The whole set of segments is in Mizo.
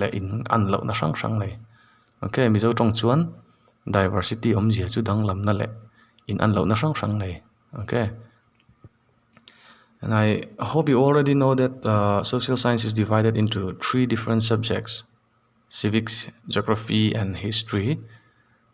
leh in an loh na hrang hrang nei ok mizo tawng chuan diversity awmzia chu danglam na leh in an lohna hrang hrang nei ok and i hope you already know that uh social science is divided into three different subjects civics geography and history.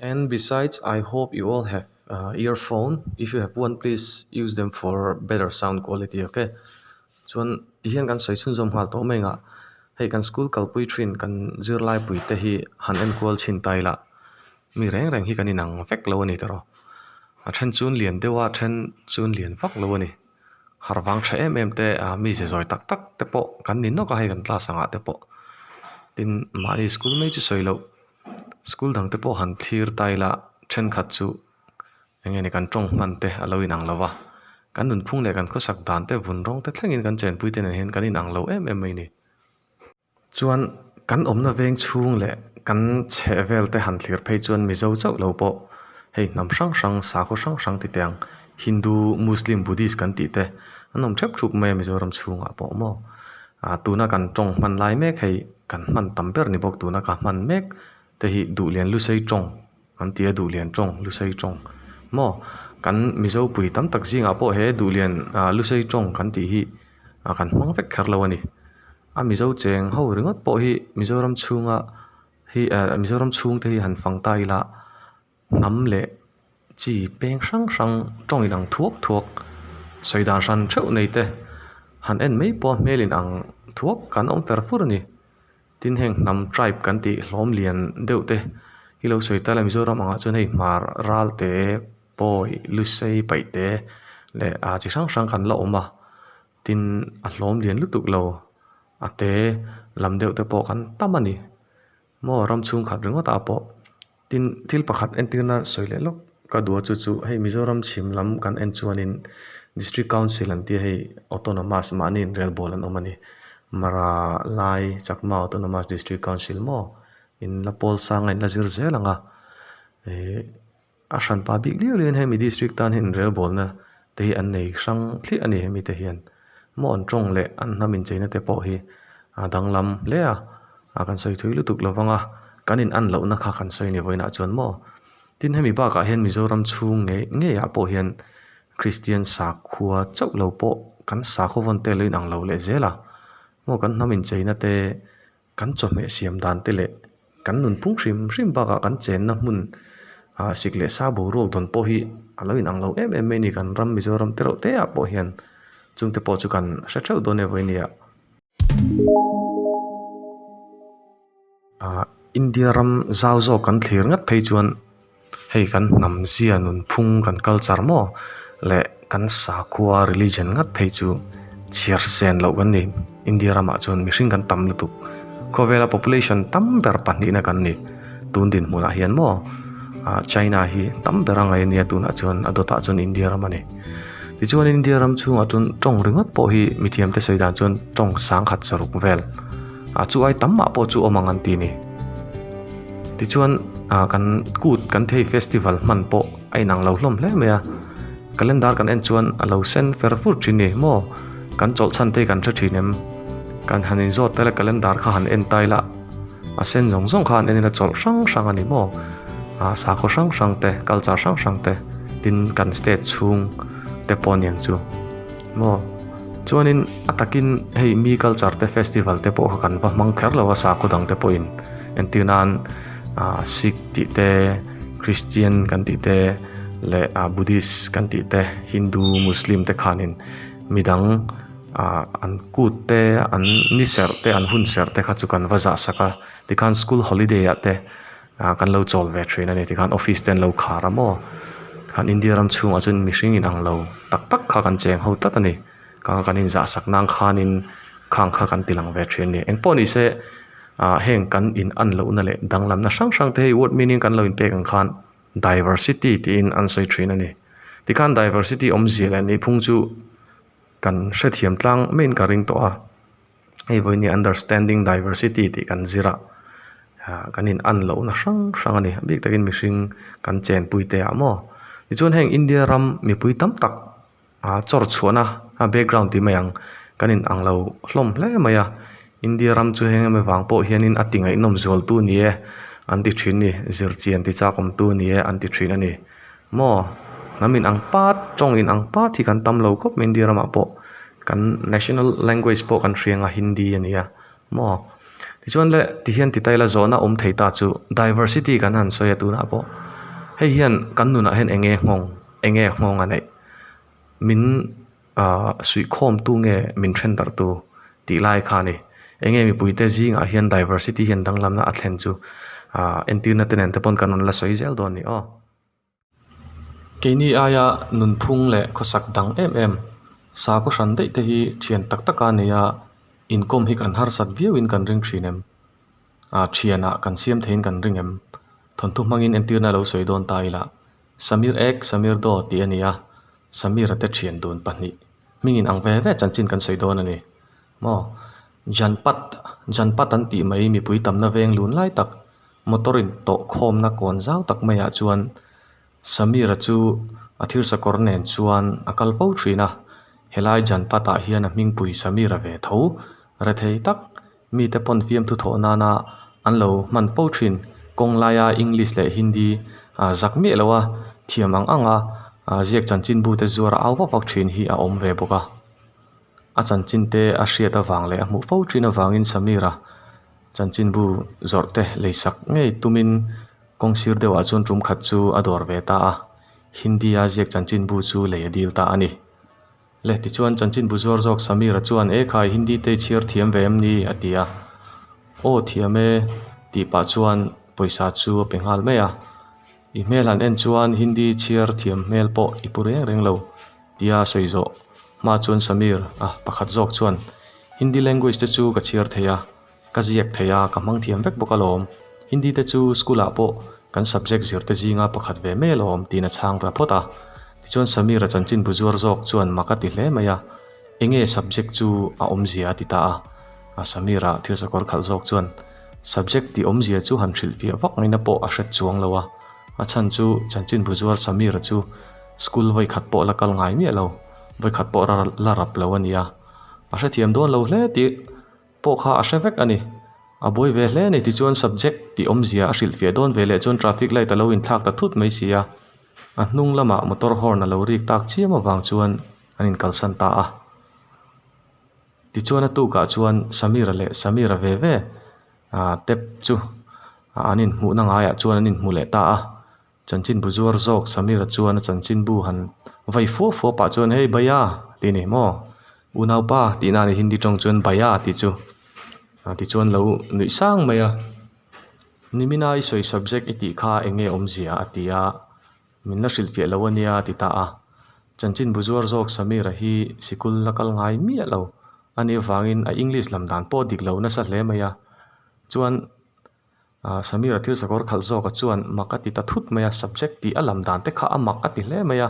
And besides I hope you all have earphone if you have one please use them for better sound quality ok chuan ti hian kan sawi chhunzawm nghal tawh mai ngah hei kan school kalpui thin kan zirlai pui te hi han enkual chhin ta ila mi reng reng hi kan inang vek lo a ni tawh rawh a then chu lian deuh a a then chu lian vak lo a ni har vang tha em em te ah mi ze zawi tak tak te pawh kan ni nawk a hei kan class angah te pawh tin mahni school mai chu sawi loh. School dang te pawh han thlir ta ila, thenkhat chu eng nge ni kan tawng hman te a lo in ang lo va, kan nunphung leh kan khawsak dan te vun rawng te thlengin kan chenpui te nen hian kan in ang lo em em mai ni. Chuan kan awmna veng chhung leh kan chheh vel te han thlir phei chuan Mizo chauh lo pawh hei hnam hrang hrang, sakhaw hrang hrang ti te ang, Hindu, Muslim, Buddhist kan tih te an awm thep thup mai a Mizoram chhungah pawh maw. A tuna kan tawng hman lai mek hei kan hman tam ber ni bawk tuna ka hman mek te hi duhlian lusei tawng an tia duhlian tawng lusei tawng maw kan mizopui tam tak zing ah pawh he duhlian ah lusei tawng kan tih hi ah kan hmang vek kher lo a ni a mizo cheng ho ringawt pawh hi mizoram chhunga hi ah mizoram chhungte hi han fang ta ila. hnam leh chi peng hrang hrang tawng in ang thuak thuak sawi dan hran theuh nei te han en mai pawh a hmel in ang thuak kan awm fer fur a ni tin heng hnam tribe kan tih hlawm lian deuh te hi lo sawi ta la mizoram ang ah chuan hei hmar ral te pawi lusei paih te leh ah chi hrang hrang kan la awm a tin a hlawm lian lutuk lo a te lam deuh te pawh kan tam a ni. Maw ram chhungkhat ringawtah pawh tin thil pakhat entirna sawi leh lawk ka duh a chu chu hei Mizoram chhim lam kan en chuanin District Council an tia hei Autonomous mahni inrelbawl an awm a ni. Mara lai Chakma Autonomous District Council maw in la pawl sanga in la zir zel ang a. A hran pa bik liau liain hemi district tan hi inrel bawlna te hi an nei hrang thliah a ni hemi te hian maw an tawng leh an hnam incheina te pawh hi a danglam hle a a kan sawi thui lutuk lo vang a kan in an lohna kha kan sawi ni vawiin ah chuan maw tin hemi bakah hian Mizoram chhung ngei ngei ah pawh hian Kristian sakhua chauh lo pawh kan sakhaw vawn te lo inang lo leh zel a maw kan hnam incheina te Kan chawhmeh siam dan te leh kan nunphung hrim hrim bakah kan chenna hmun ah sik leh sa boruak dawn pawh hi a lo inang lo em em mai a ni. Kan ram Mizoram te reuh te ah pawh hian chung te pawh chu kan hre theuh dawn e vawi nia. India ram zau zawk kan thlir ngat phei chuan. Hei kan hnam zia nunphung kan culture maw leh kan sakhua religion ngat phei chu chhiarsen loh kan ni. India ramah chuan mihring kan tam lutuk. Khawvela population tam ber pahnihna kan ni. Tun dinhmunah hian maw China hi tam ber a ngaih ania tunah chuan a dawtah chuan India ram a ni. Tichuan India ram chhungah chuan tawng ringawt pawh hi mithiamte sawi dan chuan tawng sangkhat zaruk vel. A chu ai tam mah pawh chu awm ang an ti ni. Tichuan a kan kut kan thei festival hman pawh a inang lo hlawm hle mai a. Calendar kan en chuan a lo sen fer fur thin ni maw? Kan chawlhchhan te hi kan hre thin em? Kan han inzawt ta ila calendar kha han en ta ila a sen zawng zawng kha an en ila chawlh hrang hrang a ni maw? A sakhaw hrang hrang te culture hrang hrang te tin kan state chhung te pawh aniang chu maw? Chuanin a takin hei mi culture te festival te pawh kha kan va hmang kher lo a sakhaw dang te pawhin entir nan ah sikh tih te kristian kan tih te leh ah buddhist kan tih te hindu muslim te khanin midang ah an kut te an ni serh te an hun serh te kha chu kan va zah sak a tikhan school holiday ah te-- Ahh kan lo chawl ve thin a ni tikhan office te an lo khar a maw tikhan India ram chhungah chuan mihring in ang lo tak tak kha kan cheng ho tlat a ni kang kan inzah sak nan khanin khang kha kan ti lang ve thin a ni engpawh ni se ahh heng kan in an loh na leh danglam na hrang hrang te hei word meaning kan lo in pek ang khan diversity tiin an sawi thin a ni tikhan diversity awmzia leh ni phung chu kan hrethiam tlang maiin ka ring tawh a. hei vawiin hi understanding diversity tih kan zir a ah kan in an loh na hrang hrang a ni bik takin mihring kan chen pui te ah maw tichuan heng India ram mipui tam tak ah chawr chhuahna a background tih mai ang kan in ang lo hlawm hle mai a India ram chu heng hemi vang pawh hian in a tingainawm zual tu a ni e an ti thin ni zir chian tichakawm tu a ni e an ti thin a ni. Maw? Hnam in ang pat, tawng in ang pat hi kan tam lo khawp mai India ramah pawh. Kan national language pawh kan hria anga Hindi a nia. Maw? Tichuan le ti hian tita ila zawhna awm thei ta chu diversity kan han sawi a tunah pawh hei hian kan nunah hian eng nge nghawng, eng nge nghawng a neih min. Ahh suih khawm tu nge min then darh tu tih lai kha a ni. Eng nge mipui te zing ah hian diversity hian danglam na a thlen chu ahh entirna te nen te pawn kan rawn la sawi zel dawn ni aw. Keini aia nunphung leh khawsak dang em em sâko hran daih te hi thian tak tak a nei a inkawm hi kan harsat viau in kan ring thin em? Ahh thian ah kan siam thei in kan ring em? Thawnthu hmang in entirna lo sawi dawn ta ila. Samir ek Samir daw tih a ni a, Samir a te thian dun pahnih hming in ang ve ve chanchin kan sawi dawn a ni maw. Janpat Janpat an tih mai mipui tamna veng lun lai tak motor in tawh khawmna kawn zau tak mai ah chuan Samir a chu a thil sakawr nen chuan a kal fo thin a, helai Janpat ah hian a hmingpui Samir a ve tho rethei tak. Mite pawn fiamthu thawh nana an lo hman fo thin. Kawng laia English leh Hindi a zak miah loh a, thiam ang anga ziak chanchinbu te zuar a au vak vak thin hi a awm ve bawk a. A chanchin te a hriat avang leh a hmuh fo thin avangin Sameera chanchinbu zawrh te lei sak ngei tumin kawng sir deuhah chuan rum khat chu a dawr ve ta a. Hindi a ziak chanchinbu chu lei a dil ta a ni. Le tichuan chanchin bu zuar zawk Sameera chuan, E khai, Hindi te i chhiar thiam ve em ni? a ti a. Aw thiam e, tih pah chuan pawisa chu a pe nghal mai a. I hmel han en chuan Hindi chhiar thiam hmel pawh i pu reng reng lo, tia sawi zawh. Hma chuan Sameer, a, pakhat zawk chuan, Hindi language te chu ka chhiar thei a. Ka ziak thei a, ka hmang thiam vek bawk a lawm. Hindi te chu school ah pawh kan subject zir te zinga pakhat ve mai a lawm tiin a chhang ta phawt a. Tichuan Sameer a chanchin bu zuar zawk chuan mak a ti hle mai a, Eng nge subject chu a awmzia a ti ta a. A Sameer a thil sakawr khalh zawk chuan, Subject ti awmzia chu han hrilh fiah vak mai na pawh a hret chuang lo a. A chhan chu chanchin bu zuar Sameer a chu school vawikhat pawh la kal ngai miah lo, vawikhat pawh la rap lo a nia. A hrethiam dawn lo hle tih. pawh kha a hre vek a ni. A buai ve hle a ni tichuan subject tih awmzia a hrilh fiah dawn ve leh chuan traffic light a lo in thlak ta thut mai si a, a hnung lamah motor horn a lo rik tak chiam avang chuan an in kalsan ta a. Tichuan a tukah chuan Sameera leh Sameera ve ve ahh tap chu an in hmuhna ngaiah chuan an in hmu leh ta a. Chanchin bu zuar zawk Samira chuan a chanchin bu han vai fuap fuap pah chuan Hei bhaiya ti ni maw Unaupa tihna a ni hindi tawng chuan bhaiya tih chu a ti chuan lo nuih sang mai a Nimina i sawi subject i tih kha eng nge awmzia a ti a min la hrilh fiah lo a nia a ti ta a chanchin bu zuar zawk Samira hi sikul la kal ngai miah lo a nih avangin a English lam dan pawh dik lo nasa hle mai a chuan Samir a thil sakawr khalh zawkah chuan mak a ti ta thut mai a, subject tih a lam dan te kha a mak a ti hle mai a,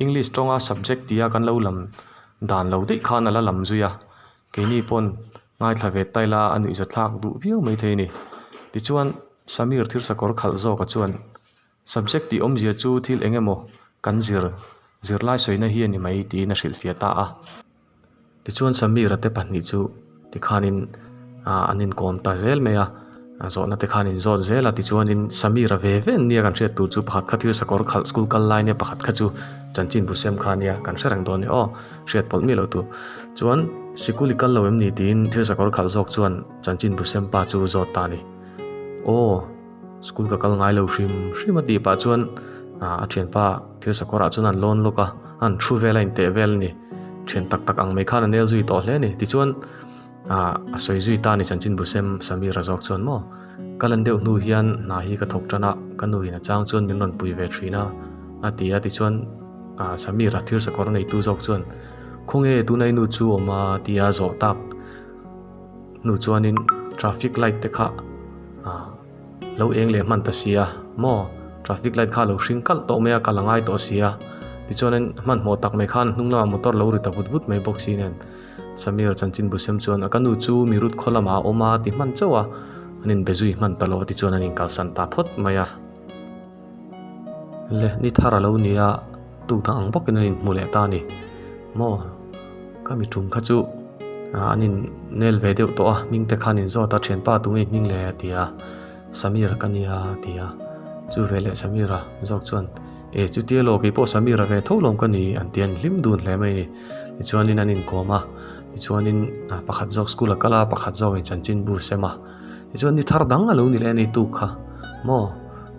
English tawnga subject tih a kan lo lam dan lo daih khan a la lam zui a, keini pawn ngaithla ve ta ila a nuih za thlak duh viau mai thei a ni. Tichuan Samir thil sakawr khalh zawkah chuan Subject tih awmzia chu thil eng emaw kan zir zirlai sawina hi a ni mai tiin a hrilhfiah ta a. Tichuan Sameera te pahnih chu tikhanin ah an inkawm ta zel mai a, zawhna te khan an zawt zel a tichuanin Sameera ve ve nia kan hriat tur chu pakhat kha thil sakawr khalh school kal lai nia pakhat kha chu chanchin busem kha nia kan hre reng dawn ni aw hriat pawlh mi lo tu chuan sikul i kal lo em ni tiin thil sakawr khalh zawk chuan chanchin busem pa chu zawt ta a ni aw. School ka kal ngai lo hrim hrim a tih pah chuan a thianpa thil sakawrah chuan an lawn lawk a, a han thu vel a inteh vel a ni. Thian tak tak ang mai khan a nel zui tawh hle a ni. Tichuan a sawi zui ta a ni Chanchinbu sem Sameer a zawk chuan maw. Ka lan deuh hnu hian hna hi ka thawk tan a, ka nu in a chang chuan min rawn pui ve thin a, a ti a. Tichuan Sameer a thil sakawr neitu zawk chuan, Khawnge tunai nu chu awm a? tia zawh tak. hnu chuanin traffic light te kha ah lo eng leh hman ta si a maw traffic light kha lo hring kalh tawh mai a ka la ngai tawh si a tichuanin hmanhmawh tak mai khan hnung lamah motor lo ri ta vut vut mai bawk si nen Sameer Chanchinbusem chuan a ka nu chu mi rut khaw lamah a awm a ti hman chauh a an inbe zui hman ta lo a tichuan an inkal san ta phawt mai a. Le ni thar a lo ni a tuna ang bawk in a in hmu leh ta a ni maw ka mi tum kha chu ah an in nel ve deuh tawh a hming te khan in zawt a thianpa tu nge hming le a ti a sameer ka nia a ti a chu veleh sameer a zawk chuan e chutia loh kei pawh sameer a ve tho lawm ka ni an ti a ni hlim dun hle mai a ni tichuan in an inkawm a tichuan in pakhat zawk school a kal a pakhat zawk in chanchinbu sem a. Tichuan ni thar dang a lo ni leh a ni tuk kha maw?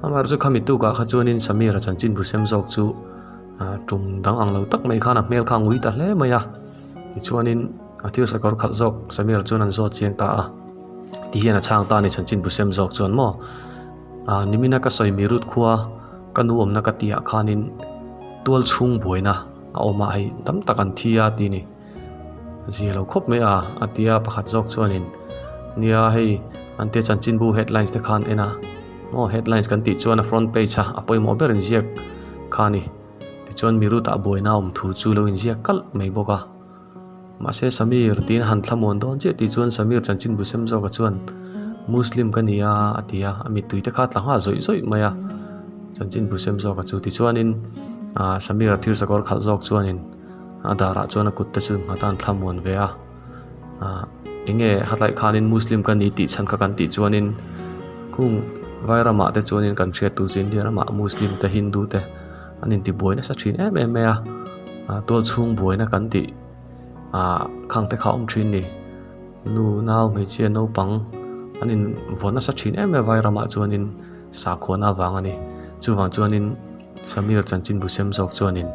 Amar chu khami tukah kha chuan in Sameer-a chanchin busem zawk chu tum dang ang lo tak mai khan a hmel kha a ngui ta hle mai a. Tichuan in a thil sakawr khalh zawk Sameer chuan an zawt chiang ta a. Ti hian a chhang ta a ni chanchin busem zawk chuan maw? Aaa Nimina ka sawi Mirut khua ka nu awmna ka tihah khan in tual chhung buaina a awmah hei tam tak an thi a ti a ni. Zia lo khawp mai a, a ti a, pakhat zawk chuanin, Nia, hei an tia chanchinbu headlines te khan en a, aw headlines kan tih chuan a front page a a pawimawh ber inziak kha a ni, tichuan mi ruta buaina awm thu chu lo inziak kalh mai bawk a, mahse Sameer tiin han thlamuan dawn chiah tih chuan Sameer chanchinbu sem zawka chuan, Muslim ka nia a ti a, a mittui te kha tla nghah zawih zawih mai a, chanchinbu sem zawka chu, tichuanin Sameer a thir sakawr khalh zawk chuanin, A darah chuan a kutte chu ngha tan thla muan ve a, ah enge hataih khanin Muslim ka ni tih chhan kha kan tih chuan in kung vai ramah te chuan in kan hriat tur chu India ramah Muslim te Hindu te an inti buai nasa thin em em mai a, ah tual chhung buaina kan tih ah khang te kha awm thin ni. Nu nau hmeichhia naupang an invawn nasa thin em em mai a vai ramah chuan in sakhuana vang a ni. Chuvang chuan in. Samir chanchin busem zawk chuanin,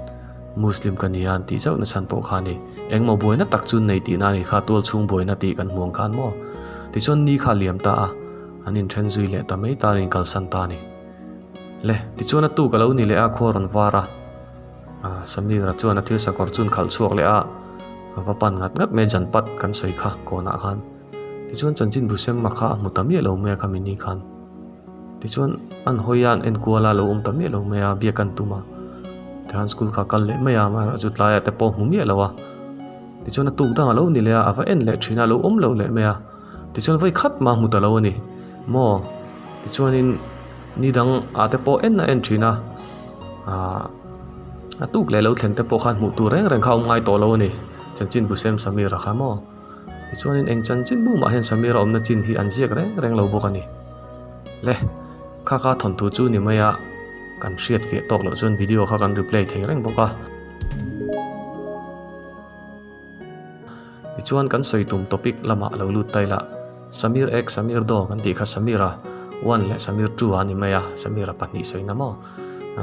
Muslim ka nia an tih zauh nachhan pawh kha ni. Engmaw buaina tak chu nei tihna a ni kha, tual chhung buaina tih kan hmuang khan maw? Tichuan ni kha a liam ta a, an inthen zui leh ta mai ta an inkalsan ta a ni. Le, tichuan a tu ka lo ni leh a, khua a rawn var a. Samira chuan a thil sakawr chu an khalh chhuak leh a, a va pan ngat ngat mai a, Janpat kan sawi kha, kawnah khan. Tichuan chanchin buseng mak kha a hmu ta miah lo mai a kha mi ni khan. Tichuan an hawi hian enkual a lo awm ta miah lo mai a, biak an tum a. Tikhan school kha kal leh mai a, mahla chu tlai ah te pawh a hmu miah lo a. Tichuan a tuk dang a lo ni leh a, a va en leh thin a, a lo awm lo leh mai a. Tichuan vawi khat mah a hmu ta lo a ni maw. Tichuanin ni dang ah te pawh en a en thin a, ahh a tuk leh lo thlen te pawh khan hmuh tur reng reng kha a awm ngai tawh lo a ni, chanchin busem Sameer a kha maw. Tichuanin eng chanchin bu mah hian Sameer a awmna chin hi an ziak reng reng lo bawk a ni. Le, Khaka thawn tur chu ni mai a, kan hriat fiah tawk loh chuan video kha kan replay thei reng bawk a. Tichuan kan sawi tum topic lamah lo lut tai lah. Sameer ek, Sameer do kan tih kha Sameer a one leh Sameer two a ni mai a, Sameer a pahnih sawi na maw?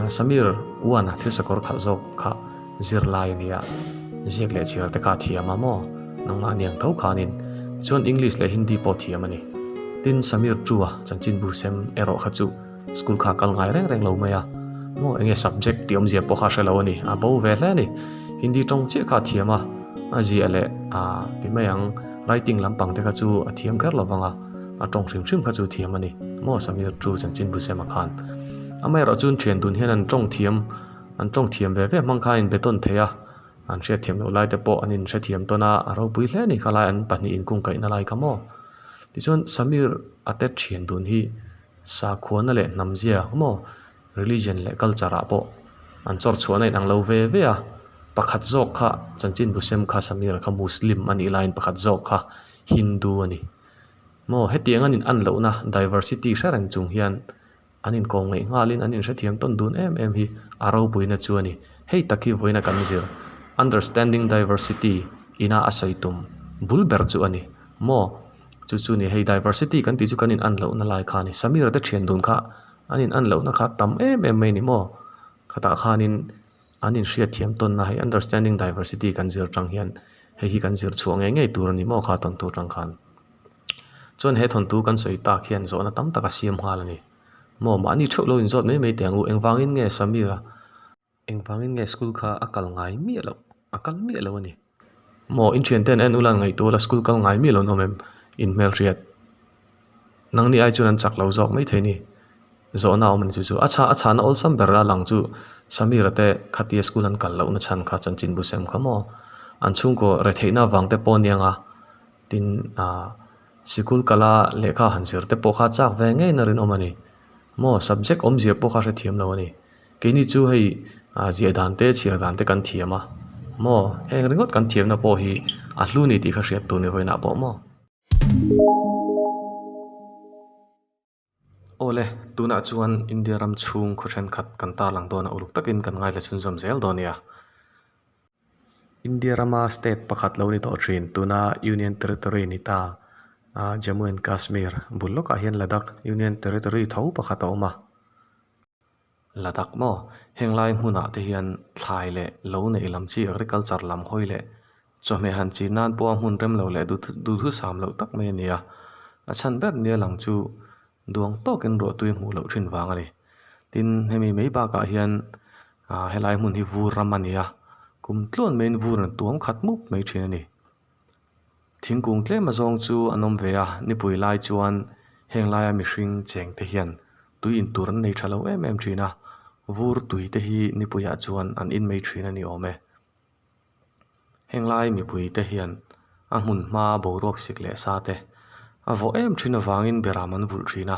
Sameer one a thil sakawr khalh zawk kha. Zirlai a nia, ziak leh chhiar te kha thiam a maw? Nangmah niang tho kha anin. Tichuan English leh Hindi pawh thiam a ni. Tin, Sameer Chua, Chanchinbu sem, erawh kha chu school kha a kal ngai reng reng lo mai a. Maw eng nge subject tih awmzia pawh kha a hre lo a ni. A bo ve hle a ni. Hindi tawng chiah kha a thiam a, a ziah leh a ti mai ang writing lampang te kha chu a thiam kher lovang a, a tawng hrim hrim kha chu a thiam a ni. Maw Sameer Chu, Chanchinbu sem a khan. Amaherawhchu thian dun hian an tawng thiam. an tawng thiam ve ve hmang kha a inbeton thei a an hriatthiam loh lai te pawh an in hrethiam tawn a a ropui hle anih khalai an pahnih in kung kaihna lai ka maw tichuan samir a tet thian dun hi sakhuana leh hnam zia ka maw religion leh culture ah pawh an chawr chhuahna inang lo ve ve a pakhat zawk kha chanchin busem kha samir kha muslim anih lai in pakhat zawk kha hindu ani maw hetiang an in an lohna diversity hre reng chung hian-- An inkawm ngeih nghalin an inhrethiam tawn dun em em hi a ropuina chu a ni. Hei tak hi vawiin a kan zir understanding diversity ina a sawi tum bul ber chu a ni maw? Chu chu nia hei diversity kan tih chu kan in an loh na lai kha a ni. Sameer te thian dun kha an in an lohna kha a tam em em mai a ni maw? Khatah khanin an inhriatthiam tawnna hei understanding diversity kan zir tang hian hei hi kan zir chhuah ngei ngei tur a ni maw kha a tawn tur tang khan. Chuan he thawntû kan sawi tâk hian zawhna tam tak a siam nghâl a ni. Maw mahni ṭheuh lo inzawt mai mai teh ang u, engvângin nge Sameera, engvângin nge school kha a kal ngai miah loh, a kal miah lo a ni? Maw in ṭhiante an en ûl a, an ngaihtu ûl a, school kal ngai miah lohna awm em? In hmelhriat nang nih ai chuan an chak lo zâwk mai thei a ni. Zawhna a awm a ni chu chu. A chhâ, a chhâna awlsam ber a lang chu Sameera te khatia school an kal lohna chhan kha chanchinbu sem kha maw? An chhûngkaw retheihna vang te pawh a ni ang a. Tin, aah, sikul kala lehkha han zir te pawh kha chak ve ngei na rinawm a ni. Maw, subject awmzia pawh kha hre thiam lo a ni. Keini chu hei, aah, ziah dan te, chhiar dan te kan thiam a. Maw, heng ringawt kan thiamna pawh hi a hlu ni tih kha hriat tur ni vawiinah pawh maw? Aw le, tunah chuan India ram chhung khaw thenkhat kan tarlang dawn a, uluk takin kan ngaithla chhunzawm zel dawn nia. India rama state pakhat lo ni tawh thin tuna Union Territory a ni ta a, Jammu and Kashmir bul lawkah hian Ladakh Union Territory tho pakhat a awm a. Ladakh maw? Heng lai hmunah te hian thlai leh lo neih lam chi agriculture lam hawi leh chawhmeh han chin nan pawh a hmun rem lo leh duhthusam loh tak mai a ni a, a chhan ber nia lang chu duang tawkin ruahtui a hmuh loh thin vang a ni. Tin, hemi mai bakah hian aaa helai hmun hi vur ram a ni a, kum tluan maiin vur an tuam khat mup mai thin a ni. Thingkung tlema zawng chu an awm ve a, nipui lai chuan heng laia mihring cheng te hian tui in tur an nei tha lo em em thin a, vur tui te hi nipuiah chuan an inmei thin a ni awm e. Heng lai mipui te hian a hmun hmaa boruak sik leh sa te a vawh em thin avangin ber am an vulh thin a,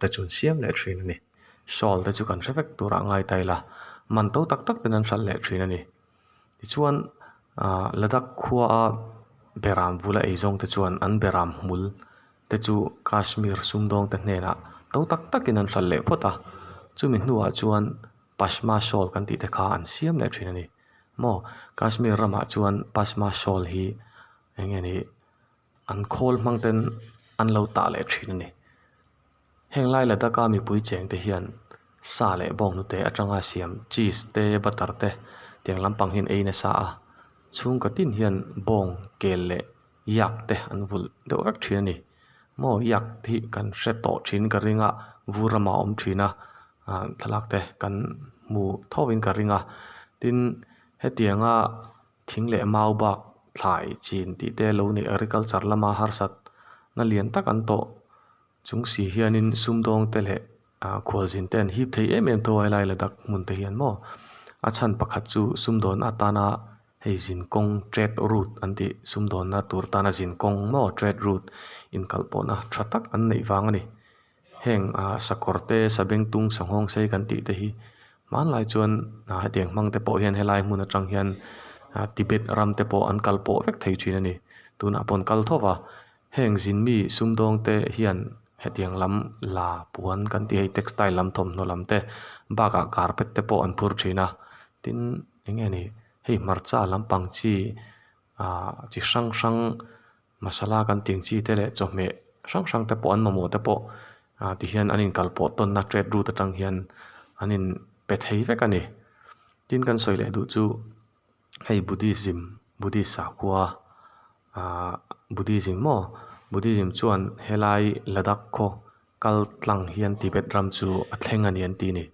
te chu an siam leh thin a ni shawl te chu kan hre vek tur a ngai ta ila man to tak tak ten an hral leh thin a ni tichuan ah ladakh khua a berah an bula ei zawng te chuan an berah hmul te chu kashmir sumdawng te hnena to tak tak in an hral leh phawt a chumi hnua chuan pashma shawl kan tih te kha an siam leh thin a ni maw kashmir ramah chuan pashma shawl hi eng nge ni. an khawl hmang ten an lo tah leh thin a ni. Heng lai la daka mipui cheng te hian sa leh bawng hnute atanga siam cheese te butter te tiang lampang hian ei nasa a, chhungkaw tin hian bawng, kel leh yak te an vulh deuh vek thin a ni. Maw yak hi kan hre tawh thin ka ring a, vu rama awm thin a aah thlalak te kan hmu tho in ka ring a tin hetianga. Thing leh mau bak thlai chin tih te lo nei agriculture lama harsat na lian tak an tawh chung si hian in sumdawng te leh ah khualzin te an hip thei em em tho a helai la dak hmun te hian maw a chhan pakhat chu sumdawn atana hei zin kawng trade route an tih sumdawn na tur tana zin kawng maw trade route inkalh pawh na tha tak an neih vang a ni. Heng sakawr te, sabeng tung, sanghawng sei kan tih te hi hmanlai chuan hetiang hmang te pawh hian helai hmun atang hian Tibet ram te pawh an kal pawh vek thei thin a ni. Tunah pawn kal thawk a, heng zin mi sumdawng te hian hetiang lam la puan kan tih hi textile lam thawmhnaw lam te, bak ah carpet te pawh an phur thin a. Tin eng nge ni hei hmarcha lampang chi chi hrang hrang. Masala kan tih chi te leh chawhmeh hrang hrang te pawh an mamawh te pawh ah ti hian an inkal pawh tawnna tet rut atang hian an in pe thei vek a ni. Tin kan sawi leh duh chu hei Buddhism, Buddhist sakhua ah Buddhism maw? Buddhism chuan helai Ladakh khaw kal tlang hian Tibet ram chu a thleng a ni an tih a ni.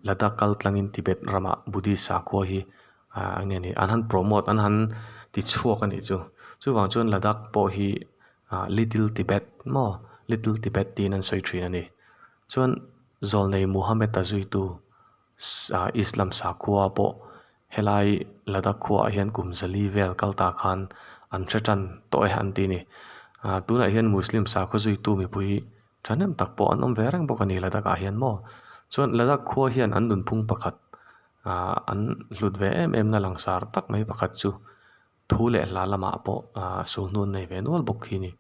Ladakh kaltlangin Tibet rama Buddhist sakhua hi a nge nih an han promote an han ti chhuak anih chu chuvang chuan Ladakh pawh hi little Tibet maw little Tibet tiin an sawi thin ani chuan Zawlnei Muhammad a zui tu Islam sakhua pawh helai Ladakh khua ah hian kum zali vel kal ta khan an hre tan tawh e an ti ani tunah hian Muslim sakhua zui tu mipui Thahnem tak pawh an awm ve reng bawk a ni Ladakah hian maw. Chuan Ladak khua hian an nunphung pakhat ah an hlut ve em em na langsar tak mai pakhat chu thu leh hla lamah pawh sulhnun nei ve nual bawk khi ni.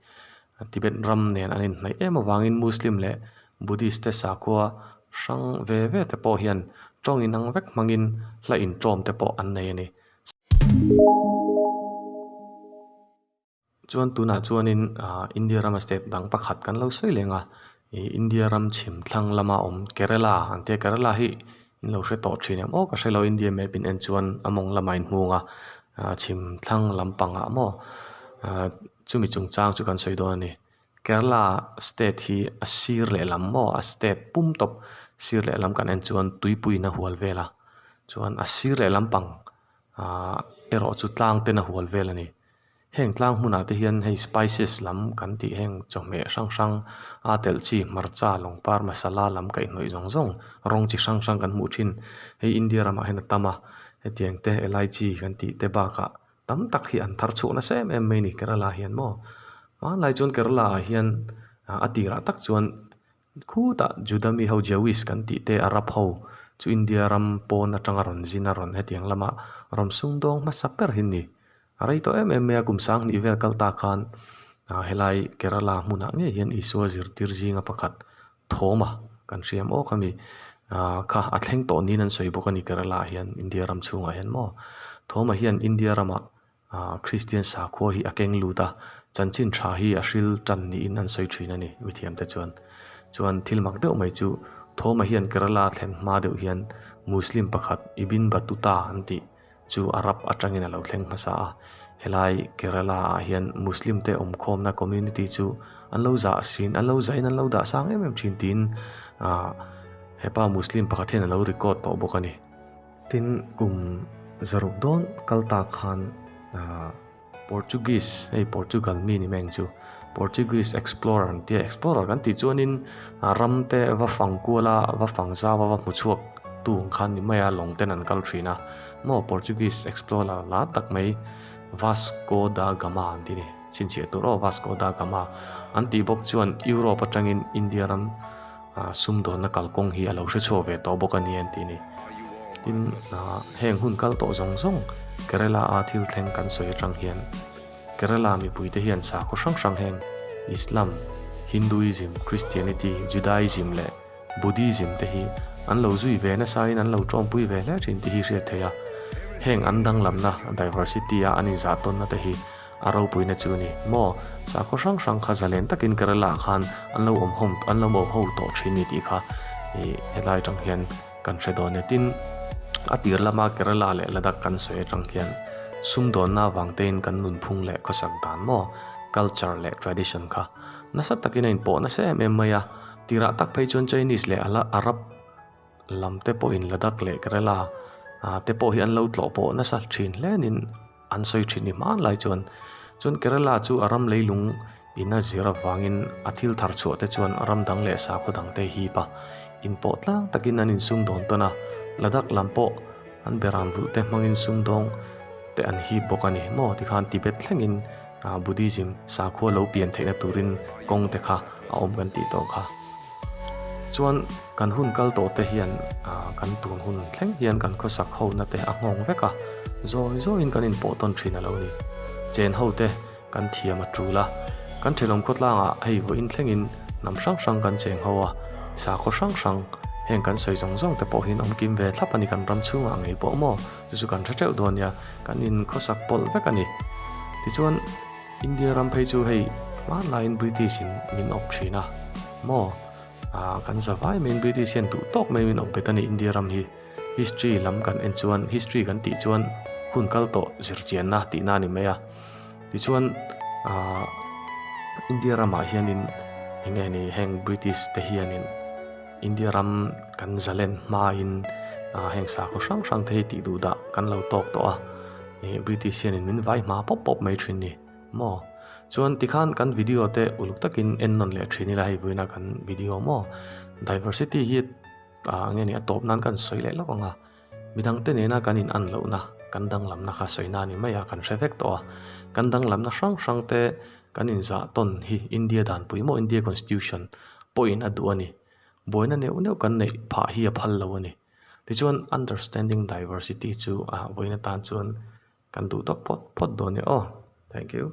Tibet ram nen an inhnaih em avangin Muslim leh Buddhist te sakhua hrang ve ve te pawh hian tawng inang vek hmangin hla inṭawm te pawh an nei a ni. Chuan tunah chuanin India rama state dang pakhat kan lo sawi leng a, i India ram chhim thlang lama awm Kerala ang te, Kerala hi in lo hre tawh thin em aw ka hrelo India map in en chuan a mawng lama in hmung a, chhim thlang lampang ah maw chumi chung chang chu kan sawi dawn a ni. Kerala state hi a sir leh lam maw a state pum tawp sir leh lam kan en chuan Tuipuiin a hual vel a, chuan a sir leh lampang erawh chu tlang ten a hual vel a ni. Heng tlang hmunah te hian hei spices lam kan tih heng chawhmeh hrang hrang a telh chi hmarcha lawng par masala lam kaihhnawih zawng zawng rawng chi hrang hrang kan hmuh thin hei India ramah hian a tam a hetiang te elaichi kan tih te bakah tam tak hi an thar chhuah nasa em em mai a ni Kerala ah hian maw hmanlai chuan Kerala ah hian a tirah tak chuan Khutah Juda mi ho Jewish kan tih te Arab ho chu India ram pawn atanga rawn zin a rawn hetiang lam a rawn sung dawng hmasa ber hi ni. A rei tawh em em mai a kum sang hnih vel kal ta khan ah helai Kerala hmunah ngei hian Isua zirtir zinga pakhat thawma kan hriam awk a mi ah kha a thleng tawh niin an sawi bawk a ni Kerala ah hian India ram chhungah hian maw thawma hian India ramah Kristian sakhua hi a keng lut a, chanchin tha hi a hril tan niin an sawi thin a ni, mithiamte chuan. Chuan thil mak deuh mai chu, thawma hian Kerala thlen hma deuh hian Muslim pakhat Ibin Battuta an tih chu a rap atangin a lo thleng hmasa a, helai Kerala ah hian Muslim te awm khawmna community chu an lo za sin, an lo zain an lo dah sang em em thin tiin hepa Muslim pakhat hian a lo record tawh bawk a ni. Tin, kum zaruk dawn kal ta khan aa. Portuguese, hei Portugal mi ni mai ang chu, Portuguese explorer ang tia, explorer kan tih chuanin aa ram te va fang kual a, va fang zau a, va hmu chhuak tu ang khan ni mai a, lawng ten an kal thin a. Maw Portuguese explorer lar tak mai Vasco da Gama an ti ni. Chhinchhiah tur aw Vasco da Gama an tih bawk chuan Europe atangin India ram. ah sumdawnna kalkawng hi a lo hre chhuak ve tawh bawk a ni an tih ni. Tin, ah heng hun kal tawh zawng zawng Kerala-a thil thleng kan sawi atang hian Kerala mipuite hian sakhaw hrang hrang heng Islam, Hinduism, Christianity, Judaism leh Buddhism te hi an lo zui ve nasain an lo tawmpui ve hle thin tih hi hriat theih a. Heng an danglamna, diversity, a an inzah tawnna te hi A ropuina chu ni maw? Sakhaw hrang hrang kha zalen takin Kerala-ah khan an lo awm hawm an lo awm ho tawh thin ni tih kha ih helai tang hian kan hre dawn nia. Tin, a tir lama Kerala leh Ladakh kan sawi atang hian sum dawnna avangtein kan nunphung leh khawsak dan maw, culture leh tradition kha nasa takin a inpawh nasa em em mai a. Tirah tak phei chuan Chinese leh Arab, Lam te pawhin la dak leh ka rel a, aa te pawh hi an lo tlawh pawh nasa thin hlên in an sawi thin ni hmân lai chuan. Chuan Kerala chu a ram leilung in a zir avangin a thil thar chhuah te chuan ram dang leh sakhaw dang te hip a in pawh tlang takin an in sum dawn tawn a, la dak lam pawh an beran vulh te hmangin sumdawng te an hip bawk a ni. Maw tikhan Tibet thlengin. Buddhism sakhua lo pian theihna turin kawng te kha a awm kan tih tawh kha. Chuan kan hun kal tawh te hian kan tun hun thleng hian kan khawsak ho na te a nghawng vek a, zawi zawi in kan in pawh tawn thin a lo ni. Chen ho te kan thiam a tul a, kan thenawm khawtlang ah hei vawiin thleng in hnam hrang hrang kan cheng ho a, sakhaw hrang hrang heng kan sawi zawng zawng te pawh hi an awm kim ve thlap a ni kan ram chhung ah ngei pawh maw? Chu chu kan hre teuh dawn nia, kan in khawsak pawlh vek a ni. Tichuan India ram phei chu hei hmanlaiin British in min awp thin a maw? Aah kan za vai maiin British hian duh tawk mai min awp bet a ni India ram hi. History lam kan en chuan, history kan tih chuan hun kal tawh zirchianna tihna a ni mai a. Tichuan aah India ramah hianin eng nge ni heng British te hianin. India ram kan zalen hmain heng sakhaw hrang hrang te hi tih duh dah kan lo tawk tawh a, ih British hian in min vai hma pawp pawp mai thin ni maw? Chuan tikhan kan video te uluk takin en nawn leh thin ila hei vuina kan video maw? Diversity hi aa nge ni a tawp nan kan sawi leh lawk ang a. Mi dangte nena kan in an lohna, kan danglamna kha sawina ni maia kan hre vek tawh a. Kan danglamna hrang hrang te kan in zah tawn hi India dan pui maw India Constitution pawhin a duh a ni. Buaina neuh neuh kan neih phah hi a phal lo a ni. Tichuan understanding diversity chu a vawiin atan chuan kan duh dawk phawt phawt dawn nia aw. Thank you.